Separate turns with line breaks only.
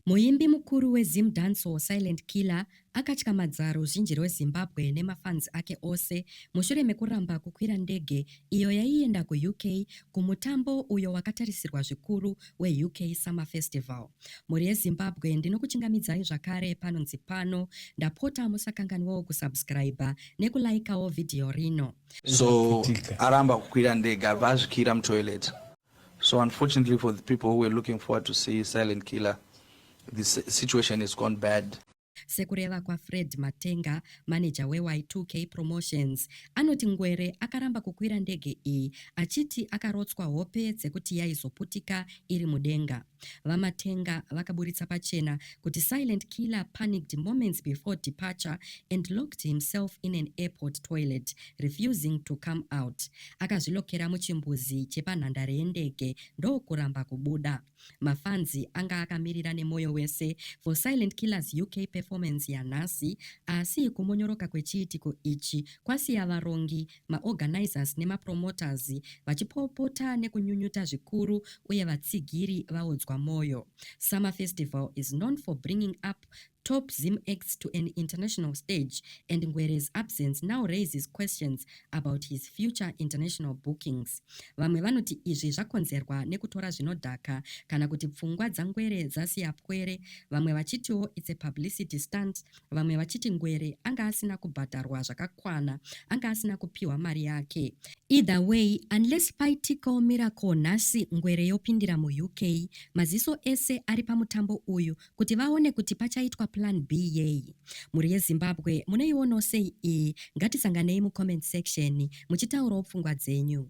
Muimbi mukuru weZim Dancehall Silent Killer akatyamadza ruzhinji rweZimbabwe nemafans ake ose mushure mekuramba kukwira ndege iyo yaienda kuUK kumutambo uyo wakatarisirwa zvikuru weUK Summer Festival. Mhuri yeZimbabwe ndinokuchingamidzai zvakare panonzi pano, ndapota musakanganwawo kusubscriber nekulaikawo video rino. So aramba kukwira ndege abva azvikira mutoilet. So unfortunately for the people who were looking forward to see Silent Killer, this situation has gone bad. Sekureva kwaFred Matenga, maneja weY2K Promotions, anoti Ngwere akaramba kukwira ndege iyi achiti akarotswa hope dzekuti yaizoputika iri mudenga. VaMatenga vakaburitsa pachena kuti Silent Killer panicked moments before departure and locked himself in an airport toilet, refusing to come out. Akazvilokera muchimbuzi chepanhandare yendege ndokuramba kubuda. Mafanzi anga akamirira nemoyo wese for Silent Killer's UK performance yanhasi, asi kumonyoroka kwechiitiko ichi kwasiya varongi maorganizers nemapromoters vachipopota nekunyunyuta zvikuru uye vatsigiri vaodzwa moyo. Summer Festival is known for bringing up top Zim acts to an international stage and Ngwere's absence now raises questions about his future international bookings. Vamwe vanoti izvi zvakonzerwa nekutora zvinodhaka kana kuti pfungwa dzaNgwere dzasiya pwere, vamwe vachitiwo it's a publicity stunt vamwe vachiti Ngwere anga asina kubhadharwa zvakakwana, anga asina kupiwa mari yake. Either way, unless paitikawo miracle nhasi Ngwere yopindira muUK, maziso ese ari pamutambo uyu kuti vaone kuti pachaitwa plan B yei. Mhuri yeZimbabwe munoionawo sei iyi? Ngatisanganei mucomment section muchitaurawo pfungwa dzenyu.